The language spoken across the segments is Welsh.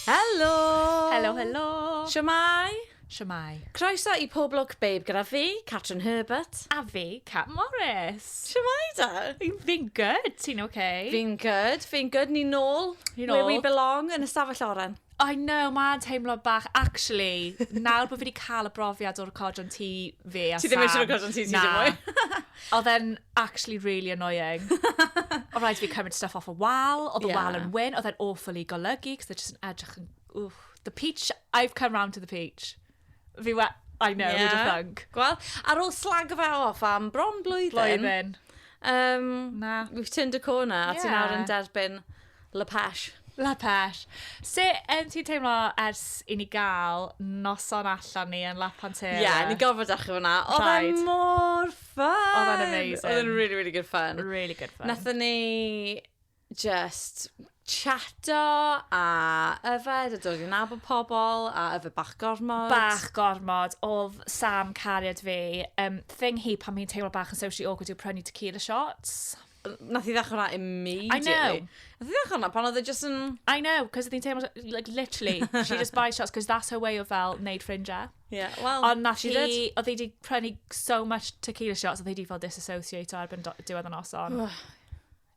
Helo! Helo, helo! Shwmae? Shwmae? Croeso i Pob Lwc Babe gyda fi, Catrin Herbert. A fi, Cat Morris. Shwmae da? Fi'n good, ti'n okay? Fi'n good, fi'n good. Ni'n nôl, where we belong, yn y stafell oren. I know, mae'n teimlo bach... Actually, nawr bod fi wedi cael y brofiad o recordio yn tŷ fi a Sam... Ti ddim eisiau recordio yn tŷ ti dim mwy? Na. Oedd e'n actually really annoying. Oedd rhaid i fi cymryd stuff off y wal, oedd y wal yn wyn, oedd e'n awful i golygu, cos oedd e jyst yn edrych yn... Wff. The peach, I've come round to the peach. Fi we- I know, yeah. who'd have thunk. Gwel, ar ôl slag fe off am bron blwyddyn. Blwyddyn. Um, Na. We've turned a corner a yeah. ti'n awr yn derbyn La Pesh. La Pesh. Se um, ti'n teimlo ers i ni gael noson allan ni yn La Pantera? Ie, yeah, ni gorfod achub hwnna. Oedd e mor ffyn! Oedd e'n amazing. Oedd e'n really, really good fun. Really good fun. Nathon ni jyst chato a yfed a dod i nabod pobl a yfed bach gormod. Bach gormod, oedd Sam cariad fi, um, thing hi pan fi'n teimlo bach yn socially awkward yw prynu tequila shots. Nath i ddechrau hwnna immediately. I know. Nath i ddechrau hwnna pan oedd e just yn... I know, cos oedd hi'n teimlo, like, literally, she just buys shots, cos that's her way of fel, neud ffrindiau. Yeah, well, Ond nath hi, oedd hi wedi prynu so much tequila shots, oedd hi wedi fel disassociate o erbyn diwedd y noson.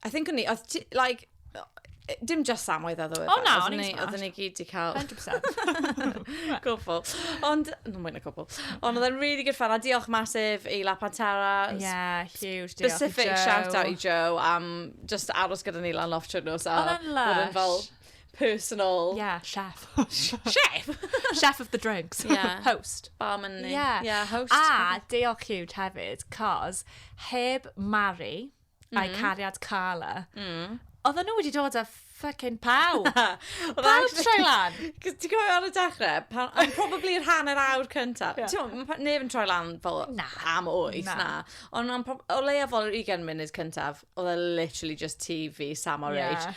I think o'n ni, oedd ti, like, yy, dim just Sam oedd oedd oedd. O, na, o'n i'n smart. Oedden ni gyd di cael... 100%. Cwbl. Ond, no, mwy na cwbl. Ond oedd e'n really good fun, a diolch masif i La Pantera. Yeah, huge. diolch i Specific Joe. shout out i Joe am just aros gyda ni lan loft trwy'r nos. a Oedd e'n bod yn fel lush. personal Yeah, chef. chef. chef of the drinks. Yeah. Host. Barman ni. Yeah. Yeah, host. A diolch huge hefyd, cos heb Mari, mm. a'i cariad Carla, mm. oedden nhw wedi dod â ffocin pawb. pawb troi lan. Cos ti'n gwybod ar y dechrau, pan, I'm probably yr hanner awr cyntaf. Yeah. Ti'n gwybod, neb yn troi lan fel na. am oes, na. na. Ond o leia fel yr 20 munud cyntaf, oedd e literally just TV, Sam o'r yeah. age.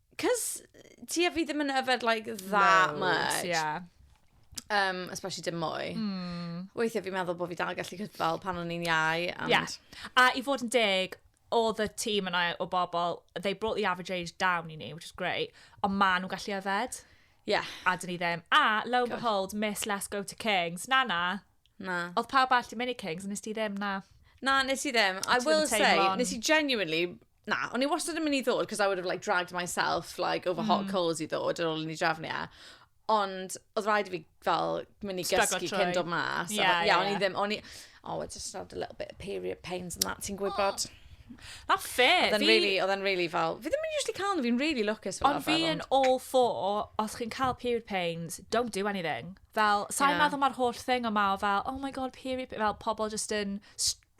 Cos, ti a fi ddim yn yfed like that much. Yeah. Um, especially dim mwy. Mm. Weithiau fi'n meddwl bod fi dal gallu cyd fel pan o'n i'n iau. And... Yeah. A i fod yn deg, oedd y tîm yna o bobl, they brought the average age down i ni, which is great, ond ma nhw'n gallu yfed. Yeah. A dyn ni ddim. A, lo and behold, Miss Let's Go to Kings. Na, na. Na. Oedd pawb all di mynd i Kings, nes ti ddim, na. Na, nes i ddim. I will say, nes i genuinely Na, o'n i wastad yn mynd i ddod, because I would have like dragged myself like over mm. hot coals i ddod ar ôl i ni drefnu e. Ond oedd rhaid i fi fel mynd i gysgu cyn dod mas. Ie, yeah, yeah, o'n i ddim, o'n i... Oh, I just had a little bit of period pains and that, ti'n gwybod? Oh. Na fe. Oedd e'n really, oedd e'n really fel... Fi ddim yn usually cael nhw, fi'n really lwcus fel Ond fi yn all for, os chi'n cael period pains, don't do anything. Fel, sa'n yeah. meddwl mae'r holl thing yma o fel, oh my god, period, fel pobl just yn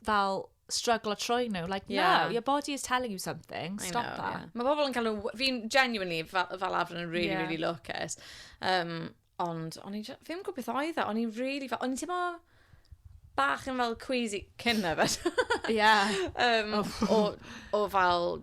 fel struggle a troi nhw. Like, yeah. no, your body is telling you something. Stop know, that. Yeah. Mae bobl yn cael nhw... Fi'n genuinely fel, fel arfer yn really, yeah. really lwcus. Um, ond o'n i'n... Fi ddim gwybod beth oedd e. O'n i'n really... O'n i'n teimlo bach yn fel queasy cyn yfed. Ie. um, o, o fel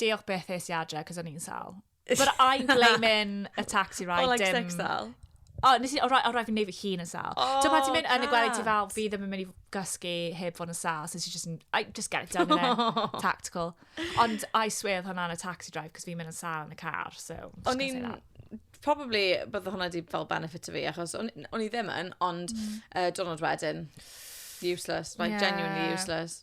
Diolch beth es i adre, cos o'n i'n sal. But I'm blaming a taxi ride. Oh, like dim... sex sal? O, nes i, o rai, o rai fi'n neud fy hun yn sal. Oh, Ti'n pa ti'n mynd yn y gwely ti fel, fi ddim yn mynd i gysgu heb fod yn sal, so ti just, I just get it done in it. Tactical. Ond I swear oedd hwnna'n a taxi drive, cos fi'n mynd yn sal yn y car, so... O'n i'n probably bydde hwnna wedi fel benefit o fi, achos o'n i ddim yn, ond mm. uh, diwrnod wedyn, useless, like yeah. genuinely useless.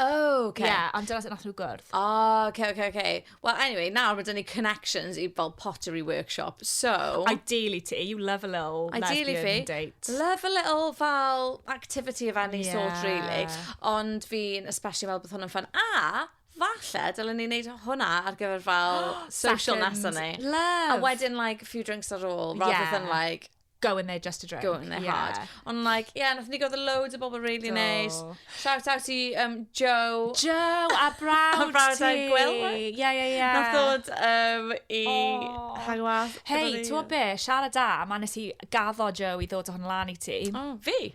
Oh, okay. Ie, yeah, ond dyna sut nath nhw gwrdd. Oh, okay, okay, okay. Well, anyway, nawr mae dyn ni connections i fel pottery workshop, so... Ideally ti, you love a little Ideally lesbian fi, date. Love a little fel activity of any yeah. sort, really. Ond fi'n especially fel bod hwnna'n ffyn. A, falle, dylen ni'n neud hwnna ar gyfer fel social nesa ni. Love. A wedyn, like, few drinks ar ôl, rather yeah. than, like, go in there just to drink. Go in there yeah. hard. Ond like, yeah, nath ni gwrdd loads o bobl really nice. Shout out i um, Joe. Joe, a brawd ti. a brawd a gweld. Ie, ie, ie. Nath ddod um, i oh. hangwas. Hei, ti'n be, siarad da, ma nes i gaddo Joe i ddod o hwn lan i ti. Oh, fi?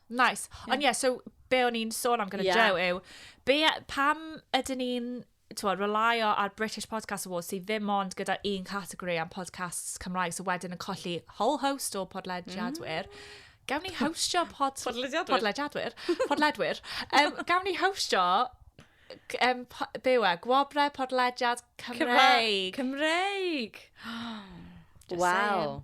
Nice. Yeah. Ond ie, yeah, so be o'n i'n sôn am gyda yeah. Joe yw, be, pam ydyn ni'n twa, relaio ar British Podcast Awards sydd ddim ond gyda un categori am podcasts Cymraeg, so wedyn yn colli whole host o podlediadwyr. Mm. Gawn ni hostio pod... podlediadwyr. Podlediadwyr. Podledwyr. um, gawn ni hostio um, byw e, gwobre podlediad Cymraeg. Cymraeg. Cymraeg. wow.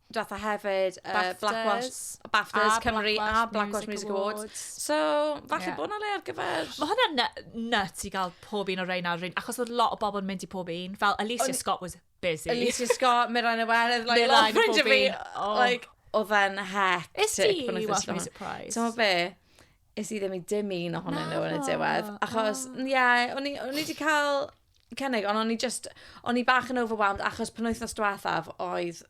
Dwetha hefyd, uh, BAFTAs, Black Watch, BAFTAs a Cymru Black a Black Watch Music, Music Awards. Awards. So, falle yeah. bod yna le ar gyfer... Mae hwnna nut i gael pob un o'r reina ar rhywun, achos oedd lot o bobl yn mynd i pob un. Fel Alicia On... Scott was busy. Alicia Scott, Miran Iwerydd, like, lot o ffrindiau fi. Oh. Like, oedd e'n hectic. Is ti, you want to be surprised. Ti'n be? Is i ddim i dim un ohonyn nhw yn y diwedd. Achos, ie, yeah, o'n i wedi cael cynnig, ond o'n i just, o'n i bach yn overwhelmed achos penwythnos diwethaf oedd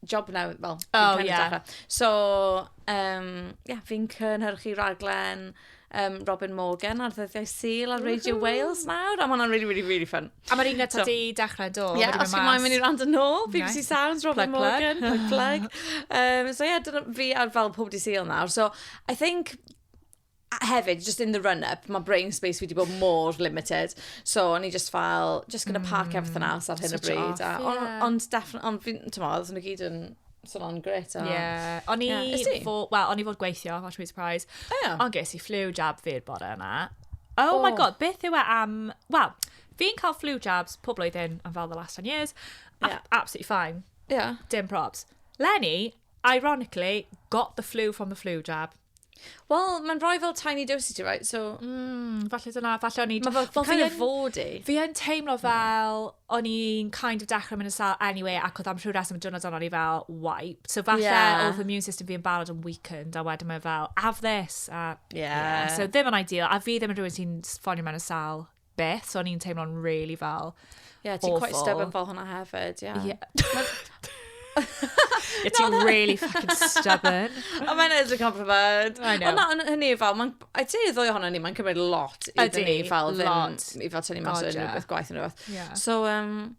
job now, well, oh, yeah. So, um, yeah, fi'n cynhyrchu raglen um, Robin Morgan ar ddyddiau syl ar Radio Wales nawr, a mae'n really, really, really fun. A mae'r un gyda so, di dechrau do? Ie, yeah, os chi'n moyn mynd i rand yn ôl, BBC nice. Sounds, Robin plug, Morgan, plug, plug. Um, so, ie, yeah, fi ar fel pob di syl nawr. So, I think A hefyd, just in the run-up, mae brain space fi wedi bod mor limited. So, o'n i just fel, just gonna park mm, everything else ar hyn o bryd. Off, yeah. Ond, on, definitely, ond fi'n, ti'n modd, oedd nhw gyd yn sôn o'n gret. Ie. Yeah. O'n i yeah. fod, well, o'n i fod gweithio, watch me surprise. Oh, yeah. Ond ges i flu jab fi'r bore yma. Oh, oh, my god, beth yw e am... Wel, fi'n cael flu jabs pob blwyddyn am fel the last 10 years. Yeah. Absolutely fine. Yeah. Dim probs. Lenny, Ironically, got the flu from the flu jab. Wel, mae'n rhoi fel tiny doses ti, right? So... Mm, falle dyna, falle o'n i... Mae fel, kind of fod i. Fi yn teimlo fel, o'n i'n kind of dechrau mynd yn sal anyway, ac oedd am rhyw reswm y diwrnod o'n i fel wiped. So falle yeah. oedd immune system fi yn barod yn weakened, a wedyn mae fel, have this. A, yeah. yeah. So ddim yn ideal, a fi ddim yn rhywun sy'n ffonio mewn y sal beth, so o'n i'n teimlo'n really fel yeah, ti'n quite stubborn fel hwnna hefyd, yeah. yeah. Ie, ti'n really fucking stubborn. Ond mae'n edrych yn pryfed. I know. Ond na, hynny fel, mae'n, I do ddwy ohono ni, mae'n cymryd lot i dyn ni fel ddim, i fel tynnu mas yn rhywbeth gwaith yn rhywbeth. Yeah. So, um,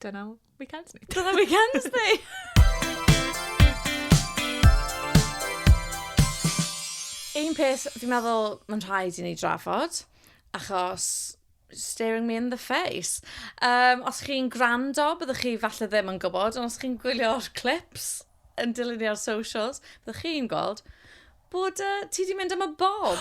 Dyna weekends ni. Dyna weekends ni! Un peth, fi'n meddwl, mae'n rhaid i ni drafod, achos staring me in the face. Um, os chi'n gwrando, byddwch chi falle ddim yn gwybod, ond os chi'n gwylio'r clips yn dilyn i'r socials, byddwch chi'n gweld bod uh, ti di mynd am y bob.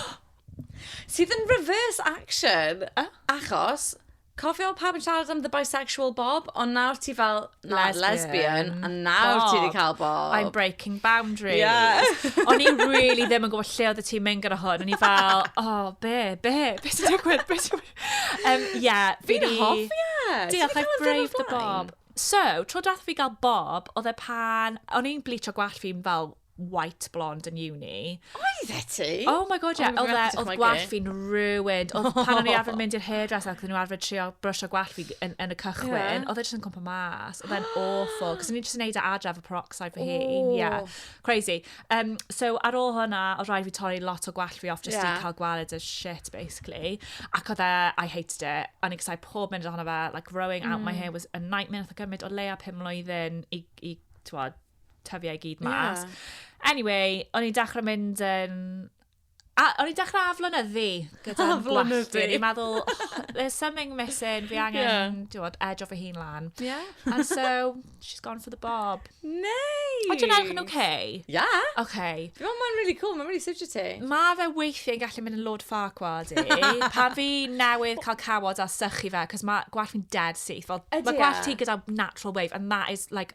Sydd yn reverse action, achos Cofio pawb yn siarad am the bisexual Bob, ond nawr ti fel, na, lesbian, lesbian a nawr Bob. ti wedi cael Bob. I'm breaking boundaries. Yes. o'n i really ddim yn gwybod lle oedd y ti'n mynd gyda hwn. O'n i fel, oh, be, be, be sy'n digwydd, be sy'n digwydd. Um, yeah, fi Fi'n hoffi e. Diolch, I've braved the Bob. So, tro dath fi gael Bob, oedd e pan, o'n i'n bleach o gwallt fi'n fel white blonde yn uni. Oedd e ti? Oh my god, yeah. Oedd e, oedd gwallt fi'n ruined. Oedd pan o'n i arfer mynd i'r hairdresser ac oedd nhw arfer trio brwsio gwallt fi yn, yn y cychwyn, yeah. oedd e jyst yn cwmpa mas. Oedd e'n awful, cos o'n i jyst yn neud e adra efo peroxide fy hun. Yeah, crazy. Um, so ar ôl hwnna, oedd rhaid fi torri lot o gwallt fi off just yeah. i cael gwaled y shit, basically. Ac oedd e, I hated it. O'n i'n gysau pob mynd ohono fe, like growing mm. out my mm. hair was a nightmare. Oedd e gymryd o leia pum mlynedd i, i, i tyfiau gyd mas. Yeah. Anyway, o'n i'n dechrau mynd yn... A, o'n i'n dechrau aflonyddu gyda'n gwalltu. O'n i'n meddwl, oh, there's something missing, fi angen, yeah. diwod, edge off a hun lan. Yeah. And so, she's gone for the bob. Nice! Ond dwi'n edrych yn okay? Yeah. Okay. Dwi'n meddwl mae'n really cool, mae'n really suited ti. Mae fe weithiau yn gallu mynd yn lord far gwad i. Pan fi newydd cael cawod a sychu fe, cos mae gwallt fi'n dead syth. Fel, mae gwallt ti gyda natural wave, and that is like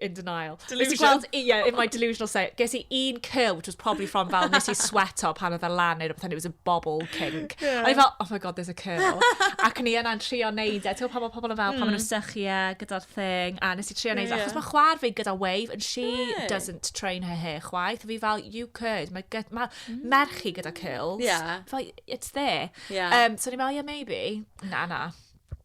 in denial. Delusion. Gweld, yeah, in my delusional state. Ges i un kill, which was probably from fel nes i sweato pan oedd e lan neu rhywbeth, and it was a bobble kink. Yeah. A i fel, oh my god, there's a kill. Ac ni yna'n trio neud e. Ti'n pan mae pobl yn fel, mm. pan maen nhw'n sychu e gyda'r thing, a nes i trio neud e. Achos mae chwar fi gyda wave, and she yeah. doesn't train her hair chwaith. A fi fel, you could. Mae ma, mm. merchi gyda kills. Yeah. Fel, it's there. Yeah. Um, so ni'n fel, yeah, maybe. Na, na.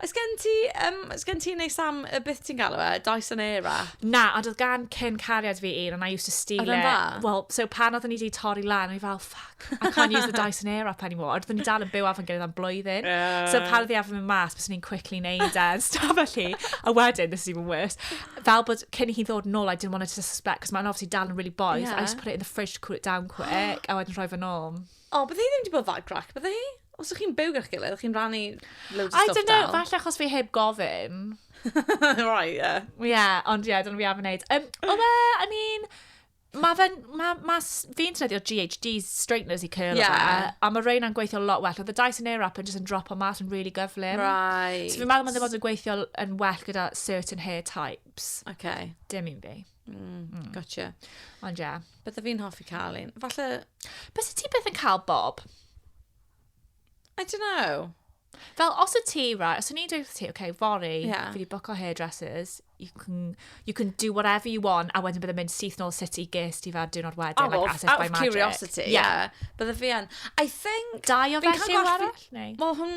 Oes gen ti, um, oes gen ti neu Sam, y beth ti'n galw e, Dyson Airwrap? Na, ond oedd gan cyn cariad fi un, and I used to steal it. Oedd dda? Wel, so pan oedden ni wedi torri lan, o'n i fel, fuck, I can't use the Dyson Airwrap anymore. Oedden ni dal yn byw afon gyda'n blwyddyn. Yeah. So pan oedd i afon mynd mas, bys ni'n quickly neud e, staf felly. A wedyn, this is even worse, fel bod cyn i hi ddod nôl, I didn't want her to suspect, cos mae'n obviously dal yn really boys. Yeah. I just put it in the fridge to cool it down quick, a wedyn rhoi fe nôl. O, bydde hi ddim wedi bod that grac, bydde hi? Os ydych chi'n byw gyda'r gilydd, chi'n rannu loads o I don't know, falle achos fi heb gofyn. right, yeah. Yeah, ond yeah, dyna fi am wneud. Um, o be, I mean, Mae fe'n... Mae ma, fi'n treddio GHD straighteners i curl yeah. fe, a mae reina yn gweithio lot well. Oedd y Dyson Airwrap yn just yn drop o mas yn really gyflym. Right. So fi'n meddwl mae'n ddim ond yn gweithio yn well gyda certain hair types. Okay. Dim un fi. Mm, mm. Gotcha. Ond ie, bydda fi'n hoffi cael un. Falle... Bys ti beth yn cael bob? I don't know. Fel, os y ti, right, os o'n i'n dweud ti, okay, fori, yeah. fi wedi book o hairdressers, you can, you can do whatever you want, a wedyn bydde'n mynd syth nôl sut i ges ti fa'r diwrnod wedyn, oh, like assets out by magic. curiosity, yeah. yeah. Bydde fi yn. I think... Dau o felly arall? Wel, hwn...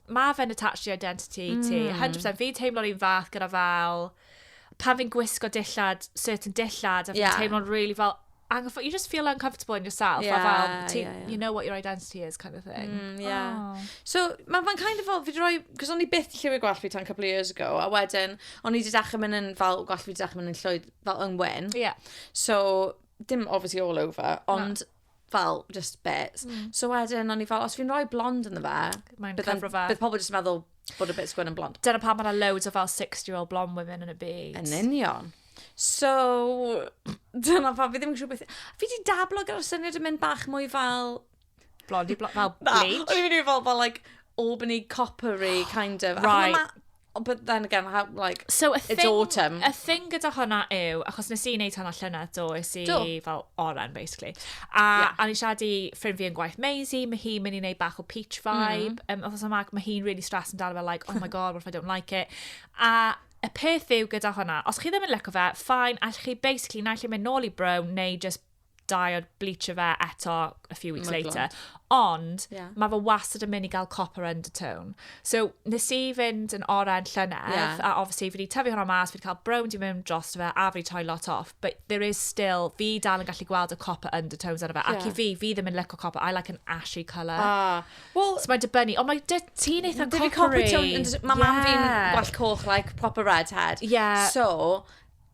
Mae fe'n attached i identity ti, 100%. Fi'n teimlo'r un fath gyda fel, pan fi'n gwisgo dillad, certain dillad, a fi'n yeah. teimlo'n really fel, anghyffo, you just feel uncomfortable in yourself. Yeah, fel, ti, yeah, yeah. you know what your identity is, kind of thing. Mm, yeah. Oh. So, mae'n ma kind of fel, fi roi, cos o'n i byth lliwi gwell fi tan couple of years ago, a wedyn, o'n i wedi dechrau mynd yn fel, gwell fi wedi dechrau mynd yn llwyd, fel yng Wyn. Yeah. So, dim obviously all over, ond no. fel, just bits. Mm. So wedyn, o'n i fel, os fi'n rhoi blond yn fe, bydd pobl jyst yn meddwl bod y bits gwyn yn blond. Dyna pa mae'n loads o fel 60-year-old blond women yn y byd. Yn union. So, dyna pa, fi ddim yn siŵr beth... Fi di dablo gyda'r syniad yn mynd bach mwy fel... Blond i blond, fel bleach. O'n i'n mynd i fel, fel, like, Albany coppery kind of. Right. Oh, but then again, how, like, so it's thing, autumn. Y thing gyda hwnna yw, achos nes i wneud hwnna llynedd, do, es i do. fel oren, basically. A, yeah. a ni siarad i ffrind fi yn gwaith Maisie, mae hi'n mynd i wneud bach o peach mm. vibe. Mm. Um, Oedd yma, mae hi'n really stressed amdano fe, like, oh my god, what if I don't like it? A y peth yw gyda hwnna, os chi ddim yn lyco fe, fine, allwch chi basically naill ei mynd nôl i brown neu just dau o'r bleach o fe eto a few weeks later. Ond yeah. mae fe wastad yn mynd i gael copper undertone. So nes i fynd yn oren llynedd, yeah. a obviously fi wedi tyfu hwnna mas, fi wedi cael brown di mewn dros fe, a fi wedi troi lot off. But there is still, fi dal yn gallu gweld y copper undertones ar y fe. Yeah. Ac i fi, fi ddim yn licio copper, I like an ashy colour. Ah. Well, so mae'n dibynnu, ond mae dy ti'n eitha coppery. Mae copper tone, mae yeah. mam fi'n gwell coch, like proper redhead. Yeah. So,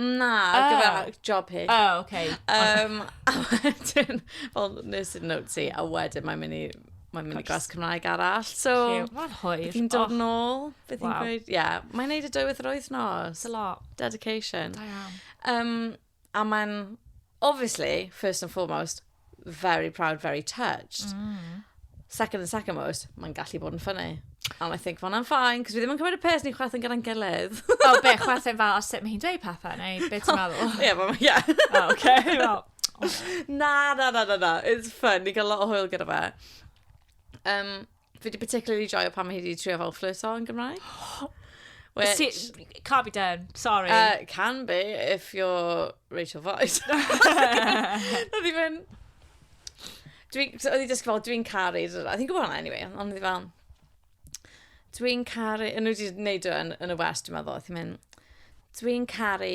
Na, oh. gyfer job hi. Oh, oce. Okay. Um, a wedyn, fel nes i'n note si, a wedyn mae'n mynd i mae'n mynd i glas Cymraeg arall. So, mae'n hwyr. Bydd hi'n dod oh. nôl. Bydd hi'n gweud, ie. Yeah. Mae'n neud y dywydd yr wythnos. A lot. Dedication. Da iawn. Um, a mae'n, obviously, first and foremost, very proud, very touched. Mm. Second and second most, mae'n gallu bod yn ffynnu. And I think, well, I'm fine, cos fi ddim yn cymryd y pes ni'n chwerthin gyda'n gilydd. o, oh, be, chwerthin fel, o sut mae hi'n dweud pethau, neu beth ti'n meddwl? Ie, yeah, yeah. oh, okay, well. na, na, na, na, na, it's fun, ni'n cael lot o hwyl gyda fe. Um, Fi wedi particularly joio pan mae hi wedi trio fel fflyrto yn Gymraeg. Which... See, can't be done, sorry. Uh, can be, if you're Rachel Voice. Oedd hi fynd... Oedd hi dysgu fel, dwi'n caru... Oedd hi'n gwybod hwnna, anyway. Ond oedd hi fel... Dwi'n caru... Yn nhw wedi gwneud yn, yn y west, dwi'n meddwl. Oedd hi'n mynd... Dwi'n caru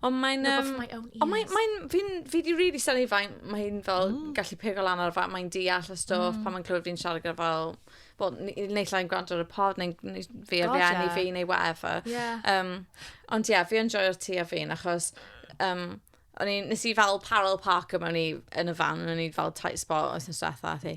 Ond mae'n... No, but for my own ears. Ond mae'n... Mae'n... Fi'n... Fi 'di rili synnu f'ai ma' hi'n fel gallu pigo lan ar y fa- mae'n deall y stwff... Mm. ...pan mae'n clywed fi'n siarad gyda fel wel n- n- naill ai'n gwrando ar y pod neu'n neu s- fi ar fy eni... God ie. ...fi neu whatever. Ie. Yym, ond ie, yeah, fi yn joio'r tŷ a fi'n achos yym, o'n i... Nes i fel parallel parko mewn i... yn y fan, o'n i fel tight spot wythnos dwetha, ath hi...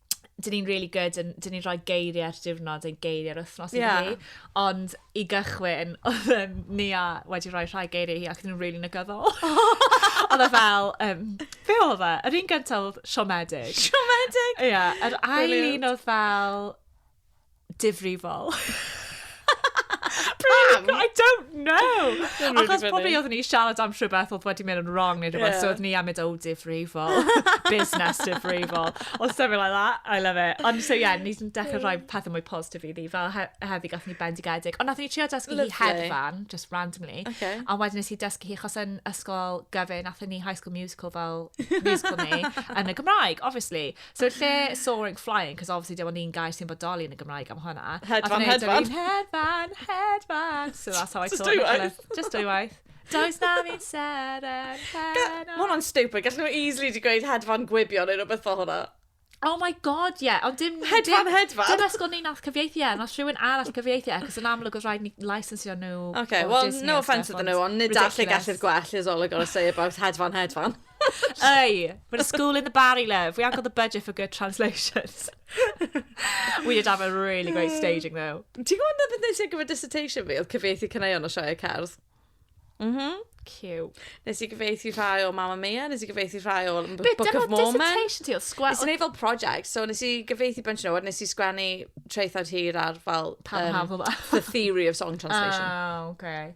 dyn ni'n really good yn, dyn ni'n rhoi geiriau ar diwrnod yn geiriau ar wythnos yeah. i ni. Ond i gychwyn, oedd um, Nia wedi rhoi rhai geiriau hi ac yn rili really negyddol. oedd e fel, um, fe oedd e? Yr un gyntaf oedd siomedig. Siomedig? Ie, yeah, yr ail un oedd fel, difrifol. Pam? I don't know! Achos probably oeddwn ni siarad am rhywbeth oedd wedi mynd yn wrong neu rhywbeth, yeah. so oeddwn ni am mynd, oh, difrifol, business difrifol, or something like that. I love it. Ond so, yeah, ni'n dechrau rhoi pethau mwy positif i ni, fel he heddi gath ni bendigedig. Ond nath ni trio dysgu hi hedfan, just randomly. Okay. A wedyn nes i dysgu hi, chos yn ysgol gyfyn, nath ni High School Musical fel musical ni, yn y Gymraeg, obviously. So lle soaring, flying, cos obviously dim ond un gair sy'n bodoli yn y Gymraeg am hwnna. Hedfan, hedfan. Hedfan, hedfan. So that's how I Just dwy waith. Just dwy waith. Does na fi'n seren heno. Mae hwnna'n stupid. Gallen nhw easily di gweud hedfan gwibio neu rhywbeth fel hwnna. Oh my god, ie. Yeah. Ond dim... Hedfan, dim, hedfan. Dim ysgol ni nath cyfieithu e, nos rhywun arall cyfieithu e, cos yn amlwg oedd rhaid ni licensio nhw. Okay, well, Disney no offence iddyn nhw, ond nid all y gallu'r gwell is all I gotta say about hedfan, hedfan. Hey, we're a school in the Barry, love. We haven't got the budget for good translations. we did have a really great staging, though. Ti'n gwybod na beth nes i ar gyfer dissertation fi? Oedd cyfeithi cyneuon o sioe cerdd. Mhm. Cute. Nes i gyfeithi rhai o Mamma Mia, nes i gyfeithi rhai o B- Bit, Book dyna of Mormon. dissertation ti, oedd sgwel... Nes i wneud fel project, so nes i gyfeithi bunch nhw, a nes i sgwennu traethawd hir ar fel... Pam um, hafl dda? The Theory of Song Translation. Oh, okay.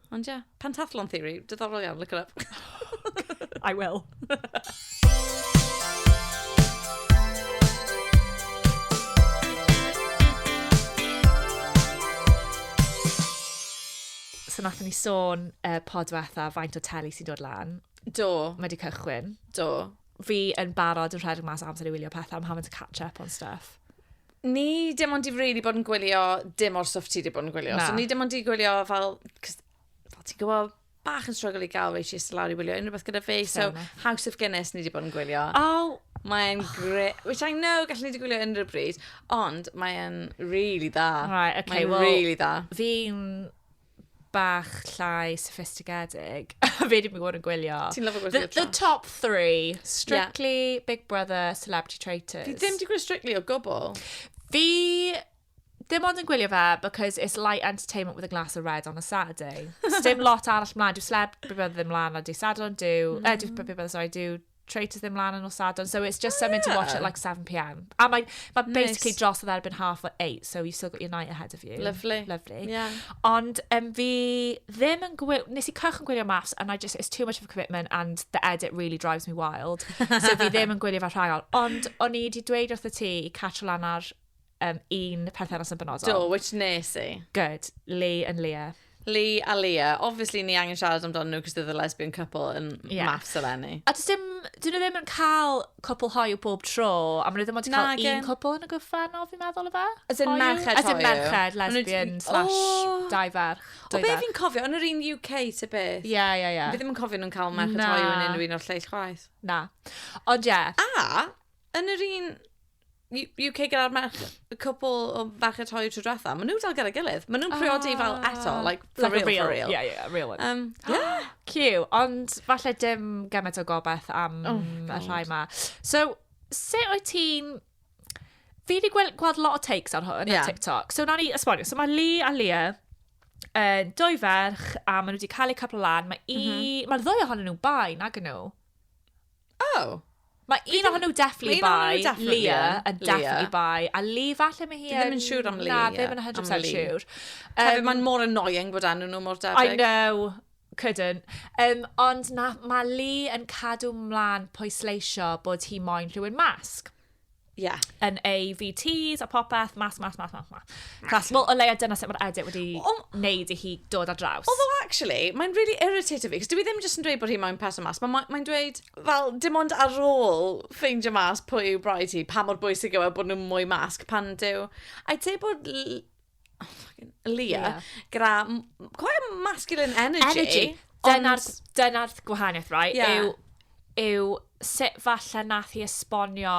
Ond ie, yeah, pentathlon theory, diddorol iawn, look it up. I will. so nath ni sôn uh, podwetha faint o teli sy'n dod lan. Do. Mae wedi cychwyn. Do. Fi yn barod yn rhedeg mas amser i wylio pethau, I'm having to catch up on stuff. ni dim ond i really bod yn gwylio dim o'r stwff ti wedi bod yn gwylio. Na. So ni dim ond i gwylio fel, fel ti'n gwybod, bach yn struggle i gael rei chis lawr i wylio unrhyw beth gyda fe. So House of Guinness ni wedi bod yn gwylio. Oh, Mae'n oh. great. Which I know gallwn ni wedi gwylio unrhyw bryd, ond mae'n really dda. Right, okay, mae'n well, really dda. Fi'n bach llai sophistigedig. Fe dwi bod yn gwylio. Ti'n lyfo gwylio The, the top three. Strictly, yeah. Big Brother, Celebrity Traitors. Fi ddim di gwylio Strictly o gwbl. Fi dim ond yn gwylio fe because it's light entertainment with a glass of red on a Saturday. Sdim lot arall mlaen. Dwi'n sleb, Big Brother ddim mlaen a di Sadwrn, diw... Mm. Uh, diw, Big Brother, sorry, diw Tray to ddim lan yn nos Sadwrn. So it's just oh, something yeah. to watch at like 7pm. A mae, mae nice. basically dros oedd erbyn half at 8, so you've still got your night ahead of you. Lovely. Lovely. Yeah. Ond um, fi ddim yn gwylio, nes i cychwyn gwylio maths and I just, it's too much of a commitment and the edit really drives me wild. so fi ddim yn gwylio fe rhagol. Ond o'n i wedi dweud wrth y ti i catch lan ar um, un perthynas yn benodol. Do, which nes i. Good. Lee and Leah. Lee a Leah. Obviously, ni angen siarad amdano nhw cos they're the lesbian couple yn yeah. maths eleni. A dys dim, dyn nhw ddim yn cael cwpl hoiw bob tro, a maen nhw ddim ond yn cael un cwpl yn y gyfrannol, fi'n meddwl o fe? As in merched hoiw. As in merched, lesbian, slash, oh. dau ferch. O be fi'n cofio, yn yr un UK ta beth? Ie, ie, ie. Fi ddim yn cofio nhw'n cael merched hoiw yn unrhyw un o'r lleill chwaith. Na. Ond ie. Yeah. A, yn yr un UK gyda'r merch, y cwpl o ferched trwy tro diwetha, maen nhw dal gyda'i gilydd. Maen nhw'n priodi fel ah. eto, like, for like real, real, for real. Yeah, yeah, real one. Um, yeah. Cw, ond falle dim gymaint o gobeith am oh, y rhai ma. So, sut wyt ti'n... Fi wedi gweld, gweld lot o takes ar hwn, yeah. ar TikTok. So, na ni esbonio. So, mae Lee a Leah uh, dwy ferch a maen nhw wedi cael eu capel lan. Mae mm -hmm. ma ddwy ohonyn nhw bai nag nhw. Oh. Mae un ohonyn nhw definitely bai, Leah, a definitely bai, a Lee falle mae hi yn... Ddim yn siŵr am Lee. Na, ddim yn 100% siŵr. Um, Mae'n mor annoying bod enw nhw mor debyg. I know, couldn't. Um, ond na, mae Lee yn cadw mlaen pwysleisio bod hi moyn rhywun masg. Ie. Yn ei VTs a popeth, mas, mas, mas, mas, mas. Clas, wel, o leia dyna sut mae'r edit wedi o, wneud i hi dod ar draws. Although, actually, mae'n really irritated fi, cos dwi e ddim jyst yn dweud bod hi mae'n person mas, mae'n mae dweud, fel, dim ond ar ôl ffeindio mas pwy yw broi ti, pa mor bwysig yw e bod nhw'n mwy masg pan dyw. I'd say bod Oh, fucking... Leah. Leah. Gyda m- quite a masculine energy. Energy. Dyna'r Ond... dyna gwahaniaeth, right? Ie. Yw, yw sut falle nath hi esbonio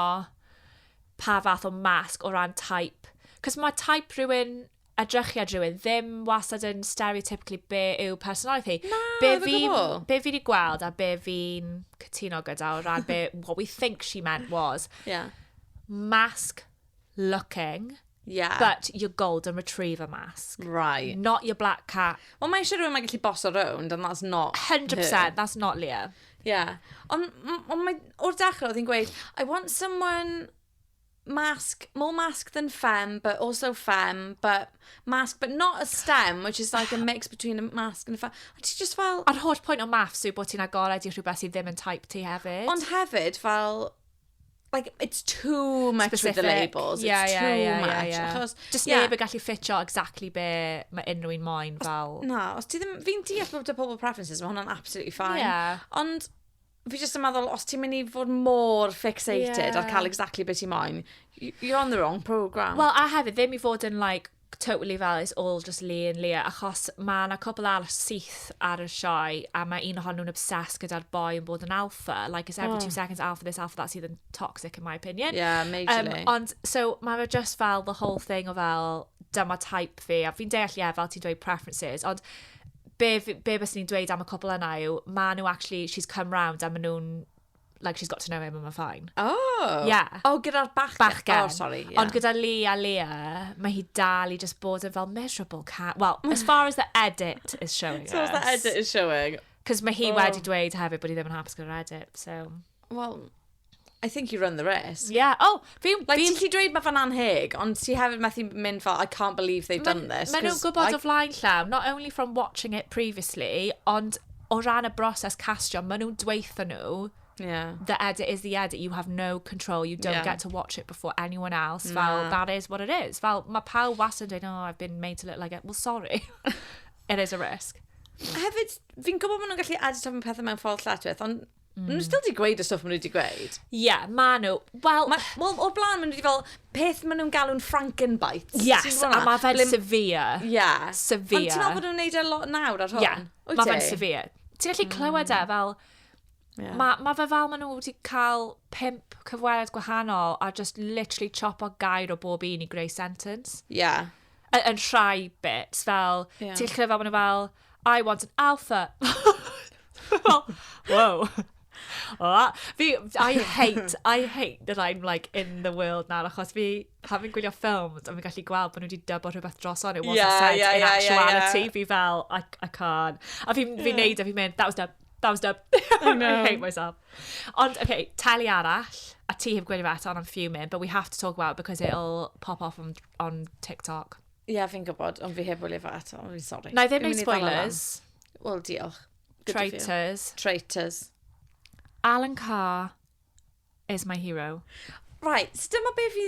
pa fath o masg o ran type. Cos mae type rhywun, edrychiad rhywun, ddim wastad yn stereotypically be yw personoliaeth hi. Na, Be ddim o fi'n, gwbl. be fi wedi gweld a be fi'n cytuno gyda o ran be, what we think she meant was Yeah. masg looking. Yeah. But your golden retriever mask. Right. Not your black cat. Wel, mae eisiau rhywun mae'n gallu boss around, and that's not 100%, her. that's not Leah. Yeah. Ond on mae, o'r dechrau oedd hi'n gweud, I want someone mask, more mask than femme, but also femme, but mask, but not a stem, which is like a mix between a mask and a femme. Ond ti just fel... A'r holl pwynt o maths yw bod ti'n agored i rhywbeth sydd ddim yn type ti hefyd. Ond hefyd, fel, like, it's too much Especially the labels, yeah, it's yeah, too yeah, much. Yeah, yeah. Achos, Just yeah. neb yn gallu ffitio exactly be mae unrhyw un moyn fel... Na, os ti ddim... Fi'n deall bod y pobl preferences, mae hwnna'n absolutely fine. Yeah. Ond fi jyst yn meddwl, os ti'n mynd i fod mor fixated yeah. ar cael exactly beth ti'n moyn, you're on the wrong programme. Wel, a hefyd, ddim i fod yn, like, totally fel it's all just Lee and Leah, achos mae yna cwpl arall syth ar y sioe, a mae un ohonyn nhw'n obsessed gyda'r boi yn bod yn alpha, like it's every oh. two seconds alpha this, alpha that, sydd yn toxic in my opinion. Yeah, majorly. Um, ond, so, mae fe just fel the whole thing o fel, dyma type fi, a fi'n deall, ie, yeah, fel ti'n dweud preferences, ond be, be bys ni'n dweud am y cwpl yna yw, maen nhw actually, she's come round, a maen nhw'n like she's got to know him and we're fine. Oh! Yeah. Oh, gyda'r bachgen. Bachgen. Oh, sorry, yeah. Ond gyda Lee a Leah, mae hi dal i just bod yn fel miserable cat. Well, as far as the edit is showing us. So as the edit is showing. Cos mae hi oh. wedi dweud hefyd bod hi ddim yn hapus gyda'r edit, so... Well, I think you run the risk. Yeah. Oh, Fi, like, fi'n gallu dweud mae fe'n anheg, ond ti hefyd methu mynd fel, I can't believe they've done this. Maen nhw'n gwybod I... o flaen llaw, not only from watching it previously, ond o ran y broses castio, maen nhw'n dweithio nhw, yeah. the edit is the edit, you have no control, you don't yeah. get to watch it before anyone else, nah. fel, that is what it is. Fel, mae pawb wastad yn dweud, oh, I've been made to look like it. Well, sorry. it is a risk. Hefyd, fi'n gwybod maen nhw'n gallu edit am pethau mewn ffordd lletchwith, ond Mm. Nhw still di gweud y stwff maen nhw wedi gweud. Ie, yeah, maen nhw. Wel... Ma, well, o'r blaen maen nhw wedi fel peth maen nhw'n galw'n Frankenbites. Yes, a mae fe'n Blim... severe. Ie. Yeah. Severe. Ond ti'n meddwl bod nhw'n neud e lot nawr ar hwn? Ie, yeah. mae fe'n severe. Ti'n gallu mm. clywed e fel... Yeah. Mae ma fe fel maen nhw wedi cael pimp cyfweliad gwahanol a just literally chop o gair o bob un i greu sentence. Ie. Yeah. Yn, yn rhai bits, fel, yeah. ti'n llyfr fel, maen fel, I want an alpha. well, whoa. Oh, fi, I hate, I hate that I'm like in the world now, achos fi, having gwylio ffilms, a fi'n gallu gweld bod nhw wedi dybo rhywbeth dros on, it wasn't yeah, said yeah, in yeah, actuality, yeah, yeah. fi fel, I, I can't. A fi'n yeah. fi neud, a fi'n mynd, that was dub, that was dub. I, know. I hate myself. Ond, okay, teli arall, a ti heb gwylio fe eto, and I'm fuming, but we have to talk about it because it'll pop off on on TikTok. Ie, yeah, fi'n gwybod, ond fi heb wylio fe eto, fi'n sori. Na i ddim neud spoilers. Wel, diolch. Traitors. Traitors. Alan Carr is my hero. Right, so dyma be fi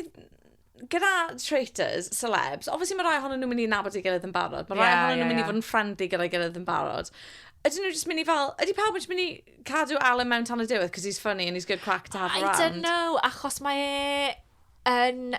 gyda traitors, celebs, obviously mae rhai ohonyn nhw'n mynd i nabod ei gilydd yn barod. Mae rhai yeah, ohonyn nhw'n yeah, mynd i fod yn ffrendi gyda'i gilydd yn barod. Ydyn nhw'n just mynd i fel, ydy pawb yn just mynd i cadw Alan mewn tan y diwedd, cos he's funny and he's good crack to have around. I don't know, achos mae e yn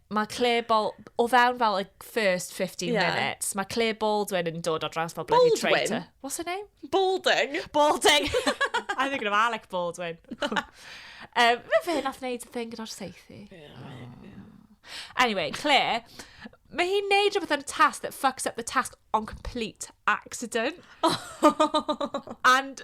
mae Claire Bol... o fewn fel y first 15 yeah. minutes, mae Claire Baldwin yn dod o draws fel bloody traitor. What's her name? Balding. Balding. I think of Alec Baldwin. um, mae fe nath wneud y thing gyda'r seithi. Anyway, Claire, mae hi'n neud rhywbeth yn y task that fucks up the task on complete accident. and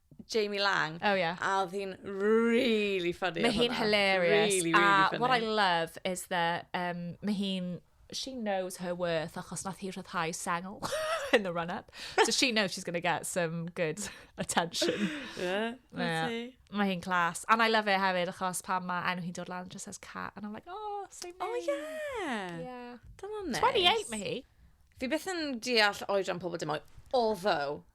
Jamie Lang. Oh, yeah. A oedd hi'n really funny. Mae hi'n hilarious. Really, really a funny. what I love is that um, mae hi'n she knows her worth achos nath hi rhyddhau sengl in the run-up. So she knows she's going to get some good attention. Yeah, yeah. Mae hi'n class. And I love it hefyd achos pan mae enw hi'n dod lan, just says cat. And I'm like, oh, same oh, name. Oh, yeah. Yeah. Dyna'n nice. 28 mae hi. Fi beth yn deall oedran pobl dim oed. Although,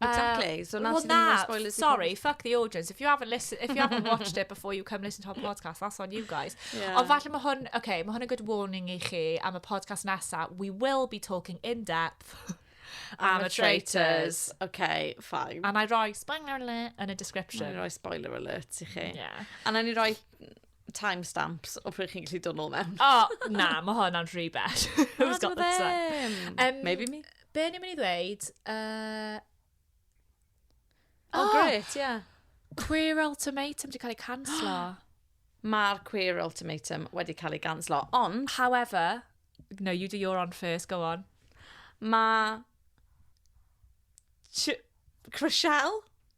Exactly. So now well, nah, spoilers. Sorry, fuck the audience. If you haven't listened, if you haven't watched it before you come listen to our podcast, that's on you guys. Yeah. Ond falle mae hwn, okay, mae hwn a good warning i chi am y podcast nesa. We will be talking in depth. am y traitors. Okay, fine. And I roi spoiler alert yn y description. I roi spoiler alert i chi. Yeah. And I roi timestamps o pryd chi'n gallu dod nôl mewn. oh, na, mae hwnna'n rhy bell. Who's got the time? Um, Maybe me. Be ni'n mynd i ddweud? Uh... Oh, oh, great, ie. Yeah. Queer Ultimatum wedi cael ei canslo. Mae'r Queer Ultimatum wedi cael ei ganslo, ond... However, no, you do your on first, go on. Mae... Ch Chriselle?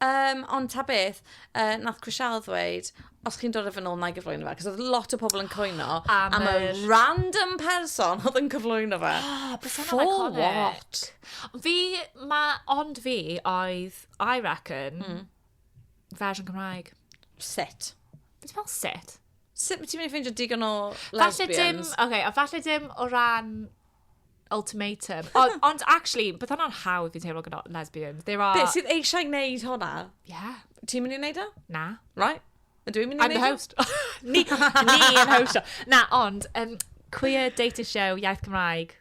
Um, ond ta beth, uh, nath Crisial ddweud, os chi'n dod â fe nôl, na i gyflwyno fe. Cos oedd lot o pobl yn coeno am, am y random person oedd yn cyflwyno fe. Oh, For iconic. what? Fi, ma, ond fi oedd, I reckon, mm. fersiwn Cymraeg. Sut? Ti'n fel sut? Sut ti'n mynd i ffeindio digon o lesbians? Falle dim, oce, okay, a falle dim o ran ultimatum. O, ond actually, bydd hwnna'n hawdd fi'n teimlo gyda lesbians. There are... Beth sydd eisiau gwneud hwnna? Yeah. Ti'n mynd i wneud o? Na. Right. Ydw i'n mynd i wneud o? I'm the host. ni, ni yn hostio. Na, ond, um, queer dating show, iaith Cymraeg.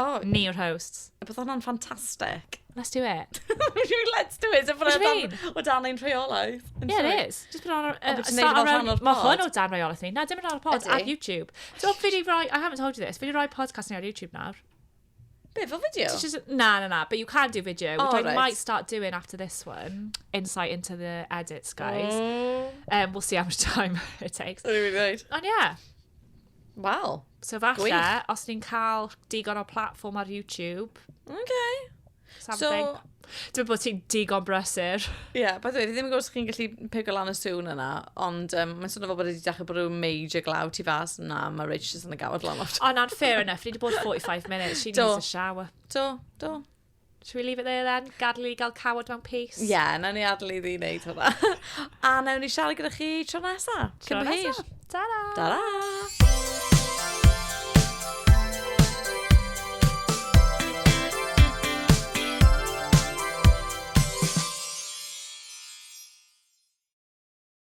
Oh. Ni yw'r hosts. Bydd hwnna'n ffantastig. Let's do it. Let's do it. Mae hyn o dan ein rheolaeth. Yeah, it is. Just put on... Uh, just neud fel rhan o'r pod. Mae hwn o dan rheolaeth ni. Na, dim yn rhan o'r pod. Ar YouTube. So, fi di roi... I haven't told you this. Fi di roi podcast ni ar YouTube nawr. Be, fel fideo? Na, na, na. But you can do video, which oh, I right. might start doing after this one. Insight into the edits, guys. Mm. Um, we'll see how much time it takes. Ond ie. Yeah. Wel, So falle, Gwych. os ni'n cael digon o platform ar YouTube, okay. something. Dwi'n bod ti'n digon brysur. Ie, yeah, by the way, fi ddim yn gwybod os chi'n gallu pigo lan y sŵn yna, ond um, mae'n swnio fel bod wedi dechrau bod rhyw major glaw tu fas yna, mae Rich jyst yn y gawod lan o'r... O, na'n fair enough, ni wedi bod 45 minutes, she Do. needs a shower. Do, do. Should we leave it there then? Gadael i ni gael cawod mewn peace. Ie, yeah, na ni adael i ni wneud hwnna. a nawn ni siarad gyda chi tro nesa. Tro nesa. Ta-ra! Ta-ra!